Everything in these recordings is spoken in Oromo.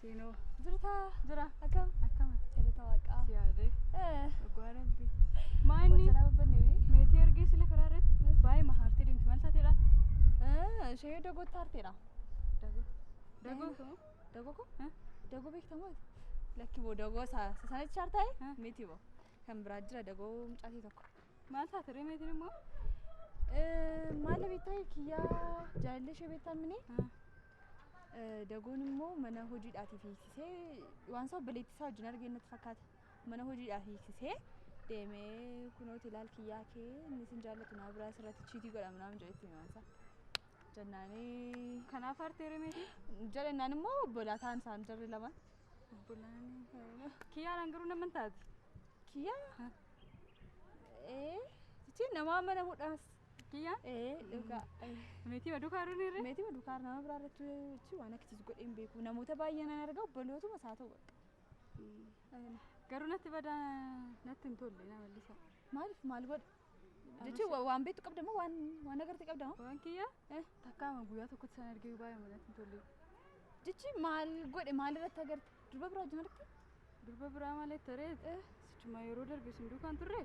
Siinoo. Jirtaa? Jira. Akkam? Akkamatti? Jalata waaqaa. Si yaadee. Eh. Dhugaa rabbi. Maanni. Wanta nama banne. Meetii argee sila karaa irratti baay'ee mahaartee deemti maal taateedha? Ishee dagoo taarteedha. Dagoo. Dagoo. Dagoo koo? Dagoo beektamoo? Lakki boo dagoo sana chaartaa'e miti boo. Kan biraa jira dagoo mucaatii tokko. Maal taate ree meetiin immoo? Maala beektaa kiyyaa jaalallee ishee beektaa mini? Dagoon immoo mana hojiidhaatiif hiiksisee waan isaa obboleettii isaa wajjin argee natti fakkaata. Mana hojiidhaaf hiiksisee deemee kunoo tilaal kiyyaa kee inni sin jaallatu naa biraa sirratti chiitii godha minaamin jedhetti himaan isaa. Jennaanii Kanaaf aartee ree meetiin? jedhennaan immoo obbolaa ta'an isaan jarri lamaan. Kiyyaa naan garuu nama hin taati. Kiyyaa? Ee, jechuun namaa mana hudhaas. Kiyyaa? Ee, dhugaa. Meetii baduu kaaruu ni irree? Meetii baduu kaaruu nama biraa irratti jechuun waan akkasiis godhee hin beeku. Namoota baay'ee nan arga obbolootuma isaa ta'u bakka. Garuu natti badaa natti hin tolle na mallisa. Maaliif maal godhe? Jechuun wa- waan beektu qabda moo waan waan agartee qabda moo? Waan kiyya Eh. takkaama guyyaa tokkotti san argee baay'ee manatti hin tolle. Jechi maal godhe maal irratti agarte? Durba biraa wajjin argite? Durba biraa malee taree sichuma yeroo darbe sin duukaan turre.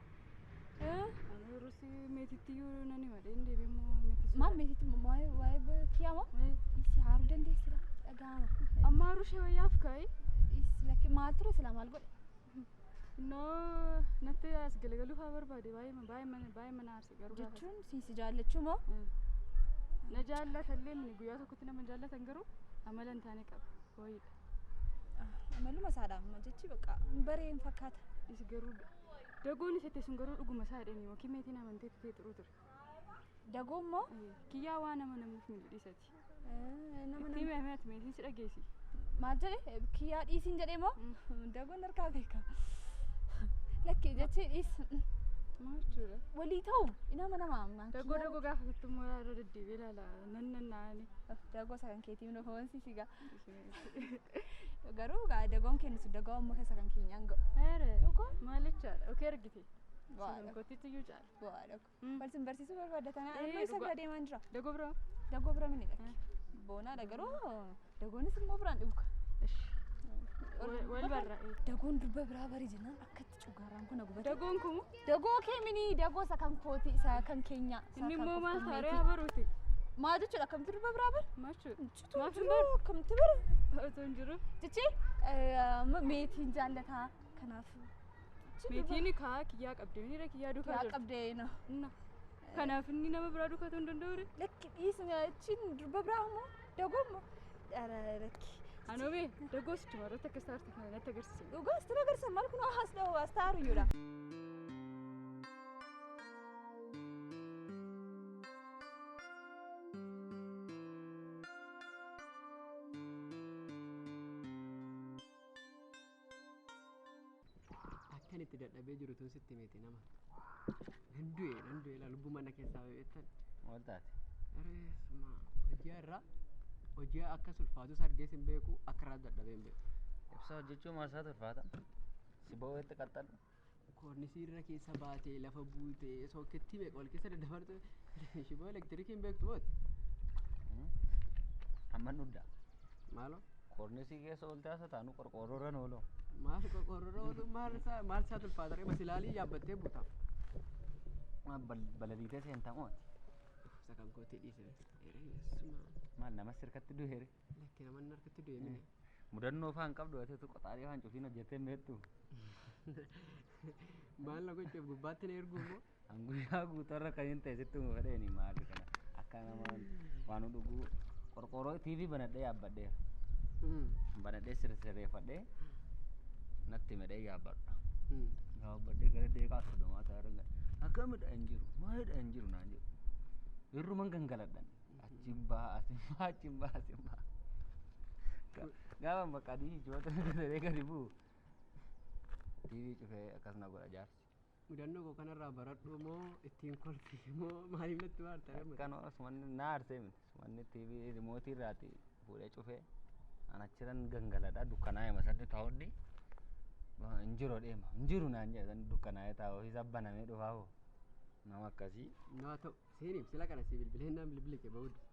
Ani yeroo si meetitti iyyuu nan hima dheen deebiin moo meetii sun. Maal meetitti waa'ee waa'ee kiyyaa moo? Eh, Isi haaruu dandeessira dhaga'ama. Amma rushee wayyaaf kaa'e. Isi lakki maal ture sila maal godhe? Innoo natti as galagaluu fa'aa barbaade baay'ee ma- baay'ee mana- baay'ee mana aarse garuu gaafa jechuun si si jaallachuu moo sana. Mm. Na jaallata illee inni guyyaa tokkotti nama hin jaallatan garuu amala hin taane qaba. Wayiidha. Ah, amaluma isaadha amma jechi bakka baree hin fakkaata Is garuu dagoon isa itti sun garuu dhuguma isaa jedhani yookiin meetiin amantee tutee xuruu ture. dagoo immoo Kiyyaa waan amanamuuf miidhu dhiisati. Nama Itti nama hime ati meetii si dhageessi. maal jedhe kiyyaa dhiisiin jedhee moo dagoon harkaa beeka. Lakki jechee dhiis Maal jechuudha? walii ta'u inama nama ammaa. Dagoo dagoo gaafa fittu immoo irra deddeebi'ee ilaala. Nan nan naani. Dagoo isa kan keetii minoo foonsi sigaa. Garuu gaa dagoon kennu sun dagoo ammoo keessa kan keenyaan ga'u. Eere. Dhugaa? Maal jechaadha? Okee argite. Waa Kan dha. kootitti iyyuu caala. Waa dha. Balsin barsiisuu barbaadda tanaa amma isa bira deemaan jira. Dagoo bira. Dagoo bira mini dhaqi. Boonaadha garuu dagoonis immoo biraan dhuga. Wal barra. Dagoon durba biraa bari jennaan akkatti cugaaraan kun gubate. Dagoon kun. Dagoo kee mini dagoo isa kan kooti isa kan keenya. Inni immoo maal taaree haa baruuti. Maa jechuudha akkamti durba biraa bari. Maachuu. Maaf hin baru. Akkamti bari. Otoo hin jiru. Jechi meetiin jaallataa kanaaf. Meetiin kaa kiyyaa qabdee miira kiyyaa duukaa Yaa jirtu. qabdee na. Inna. Kanaaf inni nama biraa duukaa ta'uu hin danda'u ree. Lakki dhiisni achiin durba biraa immoo dagomma. Dhara lakki. Anoo bee dagoo sichuma irratti akka istaarti kana natti agarsiise. Dhugaa sitti agarsiisa maal kun haas dha'u haas ta'aru iyyuudha. akkan itti dadhabee jiru tun sitti miti nama nan du'e nan du'e laa lubbuu mana keessaa beektan Maal taate? reesuma hojii irraa hojii akka sulfaatus argees hin beeku akka irraa dadhabee hin beeku Ibsa hojjechuun maasaa turfaata. Si boo'eetti qaxxadhu. Koornisii irra keessa baatee lafa buutee sookettii meeqa wal keessa daddabartu shiboo elektirikii hin beektu boot. Amma nudda. Maaloo Koornisii keessa ooltee haasa taanu qorqoorroo irra nooloo. maal qorqoorroo oolu maal isaa maal isaa tulfaataree masilaalii yaabbattee buuta. Balaliitee seentaa mooti. Isa kan kootii dhiise. Ereessuma. Maal namas sirkatti du'eere. Lakki naman harkatti du'e mini. Mudannoo faan qabdu ateetu qoxaalee faan cufiin hojjettee meettu. Maal na gochuuf gubbaatti na erguu immoo. An guyyaa guutuu irra kan hin ta'e sitti umu fedheeni maali kana akka nama waan dhuguu qorqooroo TV banadhee yaabbadheera. Mm, Banadhee sirreeffadhee natti medhee yaabbadha. mm. Yaabbadhee gara deeqaa soddomaa ta'e arga. Akkamidha hin jiru maalidha hin jiru naan jedhu. Irruman gangaladhan. Achiin baha asin baha achiin baha asin baha. Ga- Gaafa bakka diinii jiboota hojjetaree gadi bu'u. TV cufee akkas na godha jaarsi. Mudannoo koo kanarraa baradhu moo ittiin kolfi moo maaliif natti waarta lammata? Kan sumanni na aarsee miti. Sumanni TV rimootii irraati fuudhee cufee. An achiran gangaladha dukkanaa'e masanni taa'onni. Hin jiru deema. Hin jiru naan jedhe sanni dukkanaa'e taa'u isa banamee dhufaa hoo. Nama akkasii. Naa ta'u. Seenim sila kana si bilbilennaan bilbili kee ba'uu dide.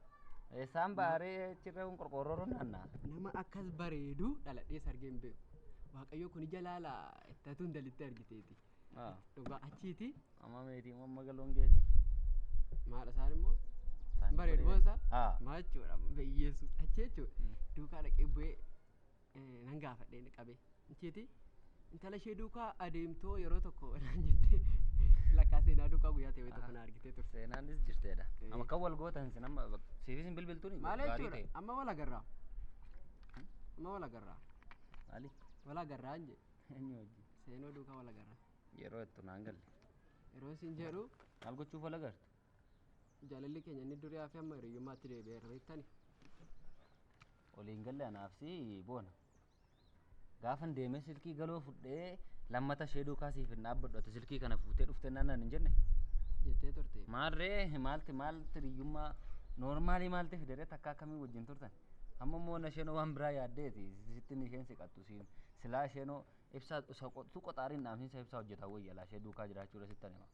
Eessaan baaree achirra kun qorqoorroo naannaa. Nama akkas bareedu dhaladhee sargee hin beeku. Waaqayyo kun ija laala ittatu hin dalitti argiteeti. Ah, Dhugaa achiiti Amma meetii amma galoon geessi. maadha isaan immoo Isaan bareedu bareedu. boosa Ah. maa jechuudha beyyeessu achi jechuudha Mm. duukaa dhaqee bu'ee nan gaafadhe inni qabee nchiiti intala ishee duukaa adeemtoo yeroo tokko naan jettee lakkaa seenaa duukaa guyyaa ta'e tokko na argitee turte seenaanis jirteedha Eh. amma kan wal gootan sin amma bak- siifis hin bilbiltuun maal gaarii jechuudha ta'e amma wal agarraa amma wal agarraa maali wal agarraa hin jedhe eenyu wajjin seenoo duukaa wal agarraa yeroo ittu naan galle yeroo isin jedhu maal gochuuf wal agartu Jaalalli keenya inni durii hafe amma hiriyyummaatti deebi'eera beektani. Waliin galle anaaf si boona. Gaafan deemee silkii galoo fudhee lammata ishee duukaa siif hin dhaabbadhu ati silkii kana fuutee dhuftee naannaan hin jenne. Jettee turte. Maarree maalti maalti hiriyyummaa noormaalii maalti fideree takka akkamii wajjin turtan. Amma immoo na isheen waan biraa yaaddeeti sittin isheen si qattu siin silaa isheen ibsaa isa qotu qoxaariin dhaamsiinsa ibsaa hojjetaa wayya laa ishee duukaa jiraachuu irra sittan hima.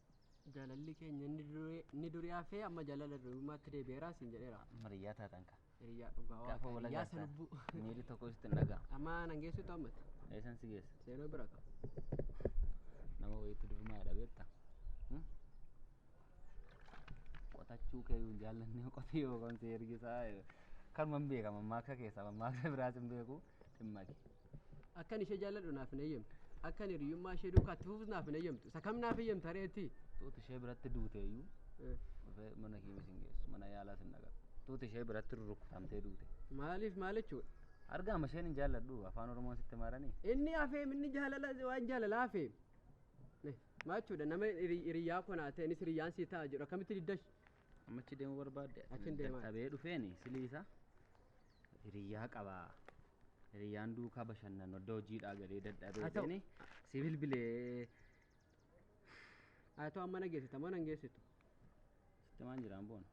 Jaalalli keenya inni durii inni durii hafee amma jaalala durummaatti deebi'eera siin jedheera. Amma hiriyaa taatan ka. Hiriyaa dhugaa Gaafa waaqaa wal hiriyaa agartan salubbuu. miirri tokko sitti hin dhaga'amu. Amma nan geessuutu ammatti. Eessan si geessa? Seenoo bira qaba. Nama wayiitti durmaa jedha beekta. Hmm? Qotachuu kee hin jaallanne qotee yookaan si ergisaa. Kan man beeka mammaaksa keessaa mammaaksa biraas hin beeku dhimma kee. Akkan ishee jaalladhu naaf hin eeyyamtu. Akkan hiriyyummaa ishee duukaa itti fufus naaf hin eeyyamtu. Isa kam naaf eeyyamta ree ati? Tuuti ishee biratti duute iyyuu Eh, dhufee mana kiimis hin geessu. Mana yaalaas hin dhaqatu. Tuuti ishee biratti rurrukutamtee duute. Maaliif maal jechuudha? Argaama isheen hin jaalladhu afaan Oromoon sitti maaranii. Inni hafeem inni jaalala waan jaalala hafeem. Eh, Maal jechuudha nama hiri- hiriyyaa koo naa ta'e innis hiriyyaan sii ta'a jedhu akkamitti diddash? Amma achi deemuu barbaadde? Achiin deemaa. Dadhabee dhufeeni siliisa hiriyyaa qaba. Hiriyyaan duukaa bashannanu adda hojiidhaa galee dadhabee Haa ta'u. deeni si bilbilee Haa ta'u amma na geessita moo na hin geessitu? sitti maan jiraan boona.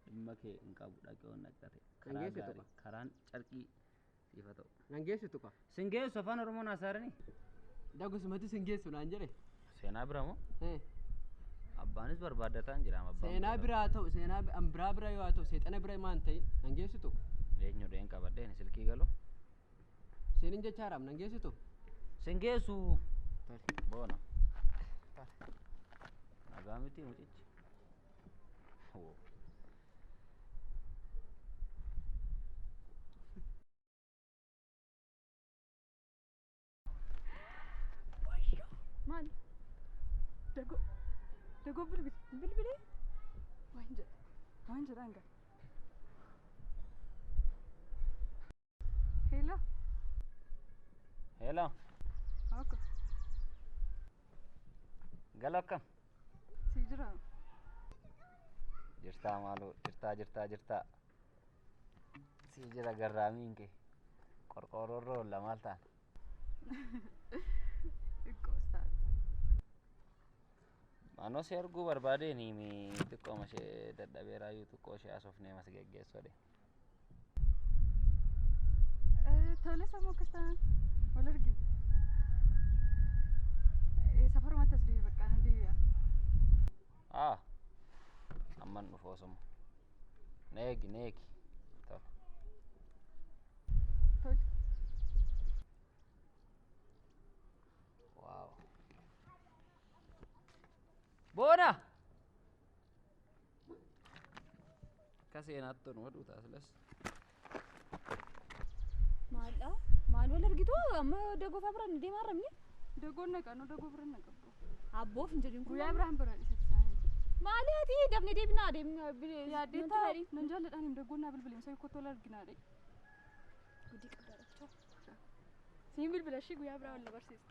Dhimma kee hin qabu dhaqee ol naqate. Kan Karaa geessitu gaarii qaba. karaan carqii siif haa ta'u. Nan geessu tuqa. Sin geessu afaan Oromoon haasa'arani. Dagusumatti sin geessu naan jedhe. Seenaa bira moo? Eh, Abbaanis barbaaddataan jira. amma abbaan Seenaa bira- biraa ta'u seenaa bi- an biraa bira yoo haa ta'u seexana bira maan ta'e nan geessu tuqa. Eenyu dheen qabadheen silkii galu. Seenin jechaa raam nan geessu tuqa. Sin geessu. Tole. Boona. Nagaa miti mucichi. Woo. Maali? Dagoo. Dagoo bilbili. Bilbili. Waan jedha. Waan jedha hanga. Hello. Hello. Akka. Galo akkam? Si jira. Jirtaa maaloo jirtaa jirtaa jirtaa. Si jira garraamiin kee. Qorqoorroorra oolla maal taana? Xiqqoo isaati. Manoo si arguu barbaadeen himi xiqqooma ishee dadhabeeraayyuu xiqqoo ishee asofnee mas geggeessoo deema. Tole sammuu akkas taanaan wal argina. Safarumatti as deebi bakka nan deebi'a. Ah, amman dhufu osuma. Neegi, neegi. Tole. Tole. Waaw. Boona! Akka seenaatti nu oduu taasilas. Maaldhaa? Maal wal argitu? Amma dagoo fa'aa biraan deemaa jirra. Dagoon na qanu dagoo biraan na qabu. Abboof hin jedhin kun. Guyyaa biraan biraan isa taa'e. Maali ati dafnee deebinaa deemnaa. Yaaddee taa'e nan jaalladhaan hin dagoon naa bilbileen sa'ii kottu wal arginaa dhee. Gudii qabdaa dhachaa. Siin bilbila ishii guyyaa biraa wal na barsiisa.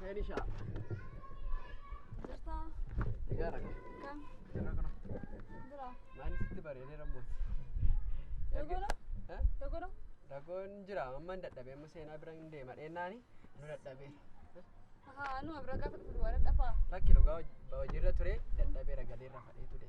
Seenisha. Jirtaa? Egaa rakka. Kam? Jirra kana. Jira. Maanni sitti bareedee rabbooti. Dogono? Eh? Dogono? Dagoon jira amma hin dadhabee amma seenaa bira hin deema dheennaani nu dadhabee. Haa, anu abira gaafa dhufu duwwaa dadhabaa. Lakki dhugaa hojiirra ture dadhabee ragalee irra fadhee ture.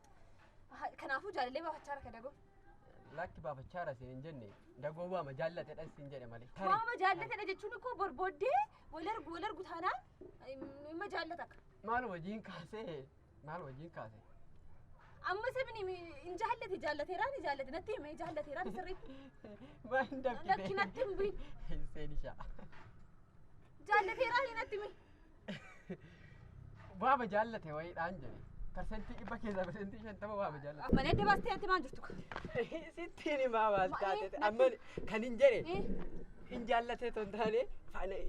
Kanaafuu jaalallee baafachaa harka dagoo. Lakki baafachaa rase hin jenne dagoo waama jaallatedha sin jedhe malee. Tarii. Waama jaallatedha jechuun koo borbooddee wal argu wal argu taanaan imma jaallata akka. Maal wajjin kaasee maal wajjin kaasee. Amma sabni hin jaallate jaallateeraa ni jaallate natti himee jaallateeraa ni sirriitti. Maal hin dafqite. Lakki natti hin bu'in. Seenishaa. Jaallateeraa ni natti himee. Waama jaallate wayiidhaan jedhe. Parsentii dhibba keessaa parsentii shantama waama jaallate. Malee adda baastee ati maal jirtu? Sittiin himaa baas taate amma kan hin jedhe Eh, hin jaallatee ton taane faana-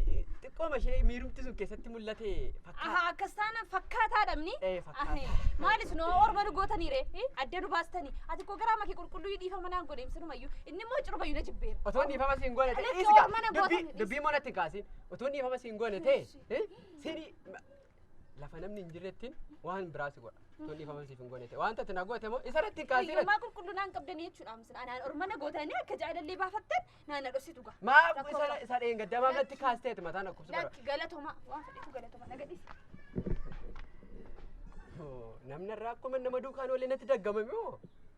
xiqqooma ishee miirumti sun keessatti mul'ate Aha, fakkaata. akkas taana fakkaataa dhabni. Eh, fakkaataa. Ahe, Maalis noo orma nu gootanii ree? Eh, Adda nu baastanii. Ati koo garaa makee qulqulluu dhiifama naan godhe ibsinumayyuu. Inni immoo cirumayyuu na jibbeera. Otoo dhiifama siin godhate Alex, dhiisika. orma na Dubbii- gootan- Dubbii moo natti hin kaasin. Utuu inni ifama siin goone ta'e eh, sini lafa namni hin jirrettiin waan biraa si godha. Utuu inni ifama siif hin goone ta'e waan tati na goote moo isa irratti hin kaasii irratti. Fayyummaa qulqulluu naan qabdanii jechuudha amsin. Anaan ormana gootanii akka jaalallee baafattan naan na dhositu gaa. Maa Rakkoo isa qaba. isa dheengaddamaa irratti kaasteeti mataan akkubsu bara. Lakki galatomaa waan fedhetu galatomaa na gadhiisi. Namni irraa akkuma nama duukaan oolee natti daggamame moo?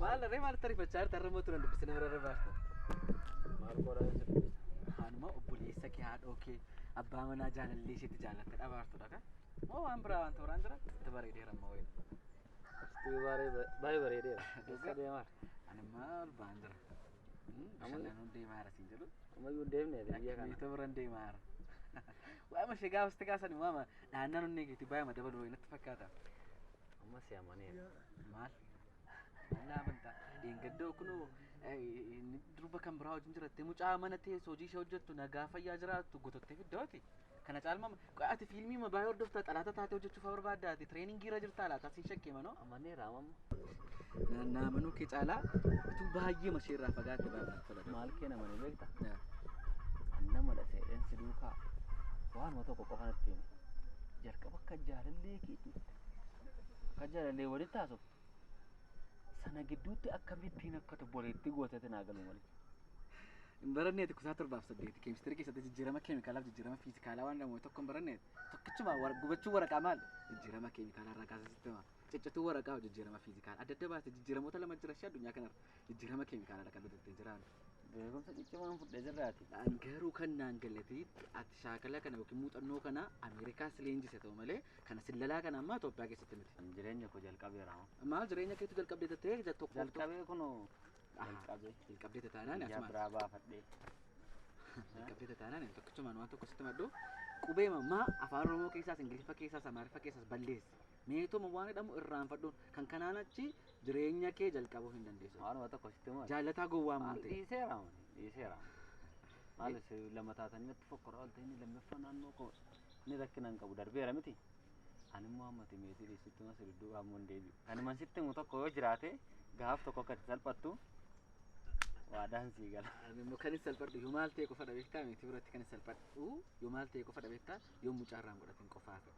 Maal ree maal tarifachaa jirta irra mootu nan dubbise nama irra baafta. Maal qoraa isa dubbisa? Haanuma obboleessa kee haadhoo kee abbaa manaa jaalallee isheetti jaalatte dhabaartudha kan. Moo waan biraa waan tooraan jira itti bareedeera amma wayii. Istuu baay'ee bareedeera. Eessa deemaa? Ani maal ba'aan jira. Bashannanuu deemaa jira siin jedhu. Ammayyuu hin deemne biyya kana. Miitoo biraan deemaa jira. Waama ishee gaafa sitti kaasan waama dhaannaan onnee keetii baay'eema dabaluu wayii natti fakkaata. Amma si amaneera. Maal? Maal amantaa? Dheengaddoo kunoo durba kan biraa wajjin jirattee mucaa mana teessoo hojii ishee hojjettu nagaa fayyaa jiraattu gotottee fiddooti. Kana caalma qoy ati fiilmii ma baay'ee hordoftaa xalaata taatee hojjechuuf barbaadda ati tireeningii irra jirtaa laata sin shakkee manoo amanee raamamma. Naannaa manuu kee caalaa utuu baay'ee mashee irraa fagaatte baay'ee natti tola. Maal kee nama ni beekta? Nama dha seedheen si duukaa waanuma tokko qofa natti himi. Jalqaba akka jaalallee keetiitti akka jaalallee walitti haasoftu sana gidduutti akkamittiin akka tobboleettii gootetti naa galuu malee. Hin baranneeti kutaa torbaaf saddeeti keemistirii keessatti jijjiirama keemikaalaaf jijjiirama fiizikaalaa waan jedhamu tokko hin baranneeti. Tokkichuma wara- gubachuu waraqaa maal jijjiirama keemikaalaa irraa kaasee sitti hima. Ciccituu waraqaa jijjiirama fiizikaalaa adda adda baasee jijjiiramoota lama jira ishee addunyaa kanarra jijjiirama keemikaalaa kan nuti ittiin jiraannu. Beekumsa ciccimaan fudhe jirraati. An garuu kan naan galate ati shaakala kana yookiin muuxannoo kana Ameerikaa si leenjise ta'u malee kana sillalaa kana ammaa Itoophiyaa keessatti miti. An jireenya koo jalqabeera. Maal jireenya keetu jalqabdee tattee tokko Jalqabee kunoo jalqabee hin qabdee tataanaan yaa asumaan biraa baafadhee hin qabdee tataanaan hin tokkichumaan waan tokko sitti maddu qubee mammaa afaan oromoo keessaas ingiliffa keessaas amaariffa keessaas balleessi meetoma waan jedhamu irraanfadhuun kan kanaan achi jireenya kee jalqabuu hin dandeessu waanuma tokko sitti maal jaallataa gowwaa maal maante dhiiseera wan dhiiseera maal si lama taatanii natti fokkora ooltee inni lammaffaa naannoo koo ni rakkina hin qabu darbeera miti Ani immoo amma ati meetii dhiistutti immoo si dudduuba ammoo hin deebi'u. Ani man sitti himu tokko yoo jiraate gaaf tokko akka itti salphattu waadaan sii gala. Ani immoo kan itti salphadhu yoo maal ta'e qofadha beektaa meetii biratti kan itti salphadhu yoo maal ta'e qofadha beektaa yoo mucaa irraa hin godhatin qofaa ta'e.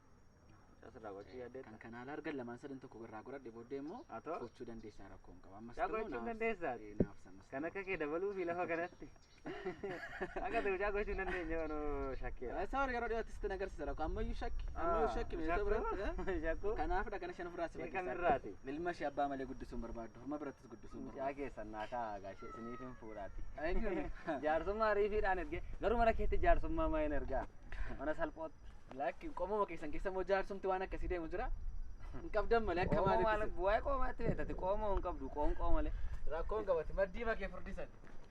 Mucas irraa gochuu Kan yaaddeetta. kana alaa argan lamaan sadan tokko irraa godhadhe booddee immoo Haa ta'u. gochuu dandeessaa rakkoo hin qabu. Ammas Yaa ta'uu gochuu naaf- dandeessaa? ee, naaf samas Kan ta'u. akka kee dabaluu fi lafa kanatti. Akka ta'e mucaa gochuu hin dandeenye waan shakkeera. Isa warri yeroo dhiyootti sitti agarsiisa rakko ammayyuu shakki ammayyuu shakki meeshaa Shakkuu? biratti. Shakkuu? Kanaafidha kana shan ofirraa si Kan fakkeessaa. irraati? Ilma ishee abbaa malee guddisuun barbaaddu horma birattis guddisuun Mucaa barbaaddu. keessan naa kaa'aa gaashee isiniif hin fuudhaati. Eenyuun? Jaarsummaa riifiidhaan erge garuu mana keetti jaarsummaa maa hin ergaa mana salphootti. Lakki qomuma keessan keessa immoo jaarsumti waan akkasii deemu jira. Hin qabdan malee akka Qoomoo maal maalitti. waa'ee qoomaatti beektate qoomoo hin qabdu qoonqoo malee. Rakkoon qabatti maddii makee furdisan.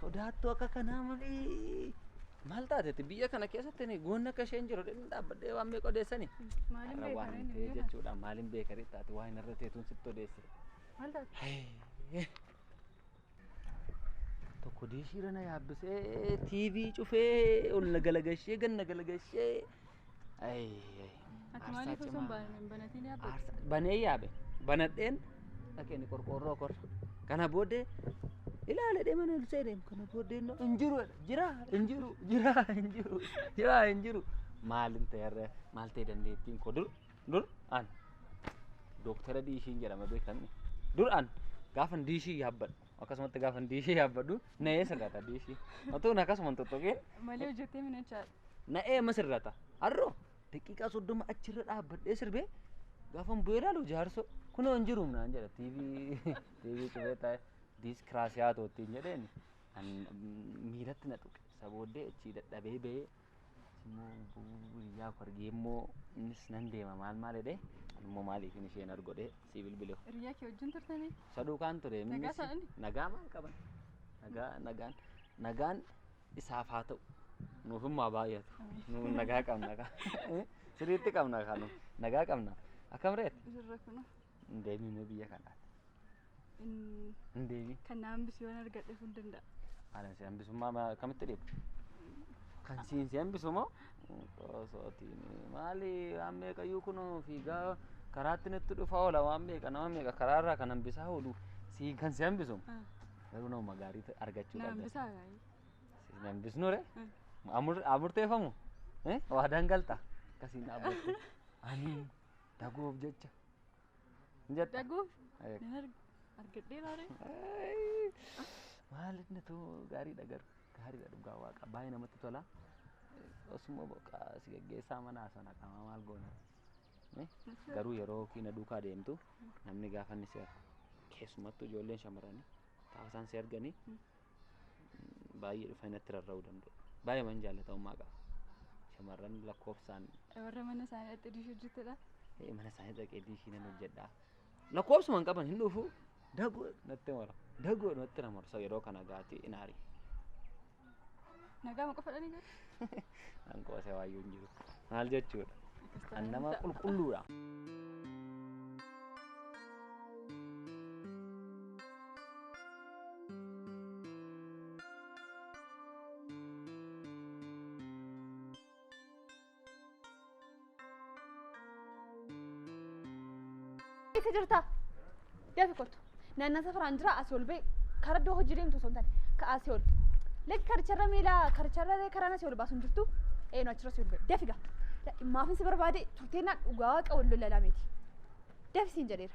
Sodaattuu akka kanaa malee maal taatetti biyya kana keessatti ni goonni akka isheen jiru dhimmi dhaabbadhee waan meeqa odeessani. Maaliin Har'a waan hin ta'e jechuudha maaliin beekarii taate waan hin irra teetuun sitti odeesse. Maal taate? Tokko diishiirra na yaabbisee TV cufee ol na galagashee gad na galagashee. Ayi, ayi. Ati Aarsaa maaliif osoo hin cimaa. baanin hin banatiin yaabbe? Aarsaa banee yaabe banadheen dhaqeen qorqoorroo korra. Kana booddee ilaale deeman ol seeneem kana booddee na- hin jiru jedha. jira hin jiru jira hin jiru jira hin jiru. Maalin ta'e har'a maal ta'e dandeettiin koo dur dur an dooktara diishiin jedhama beekamni dur an gaafan diishii yaabbadhu akkasumatti gaafan diishii yaabbadhu na eessa gata diishii otoo na akkasuma hin tuttuqin Malee hojjettee mina jechaadha. na eema sirrata har'oo daqiiqaa soddoma achirra dhaabbadhee sirbee gaafan bu'ee ilaalu jaarsoo kunoo hin jiru naan jedha tiivii tiivii cufee taa'e diiskiraasiyaa toottiin jedheen an miiratti na tuqe isa booddee achii dadhabee ba'ee Immoo hiriyaa koo argee immoo innis nan deema maal maal jedhee immoo maaliif hin isheen argodhee si bilbilee. Hiriyaa kee wajjin turtanii? Saduu kaan ture. Nagaa innis- isaa inni? Nagaa maal qaban? Nagaa nagaan nagaan isaaf haa ta'u. Nuuf immoo baay'atu. Nuuf nagaa qabna kaa. Sirriitti qabna kaa nuuf. Nagaa qabna. Akkam reet? Jirra kuna. Hin deemii mee biyya kanaati. Hin Hin deemii. kan na hambisi waan argadhe kun danda'a. Ani si hambisummaa ma- akkamitti dhiibu? Kan siin si hambisu moo? Osootiin maali waan meeqayyuu kun fiigaa karaatti nutti dhufa oola waan meeqa nama meeqa karaarraa kan hambisaa oolu si kan si hambisu Ah, garuu nama gaarii ta- argachuu Na qabda. hambisaa gaarii. Si hin hambisnu re Ah, Amur- amurteeffamu Eh? waadaan galta akkasiin dhaabbatte. Ani Daguuf jecha. Hin jetta? Daguuf Eeg. nan arg- argadhee laaree. Ayii. Maal inni too gaariidha garuu gaariidha dhugaa waaqa baay'ee namatti tola. Osuma boqa si gaggeessaa manaa sana qaama maal goona. Eh, Garuu yeroo kiina duukaa deemtu namni gaafa inni si argu keessumattuu ijoolleen shamarranii gaafa isaan si arganii baay'ee dhufanii natti rarra'uu danda'u. Baay'ee man jaallatamummaa qaba. Shamarran lakkoofsaan Warra mana isaanii dhaqxee diishii hojjettudha. eh, mana isaanii dhaqee diishii nan hojjedha. Lakkoofsuma hin qaban hin dhufu. Dagoo natti mara. Dagoo natti na marsa yeroo kana gaatee hin aari. Nagaa ma qofa dhani gara. An qoose waayyuu hin jiru. Maal jechuudha? An nama qulqulluudha. Eessa jirta? Dafi kottu. Naannaa safaraan jira asii ol ba'e. Karaa iddoo hojii deemtu osoo hin taane. Ka asii ol. Lakki karicharra miila karicharra illee karaan asii ol baasu hin jirtu. Eenu achirra asii ol ba'e. Dafi gaa. Maafin si barbaade turteennaan dhugaa waaqa wal lolalaa miti. Dafi siin jedheera.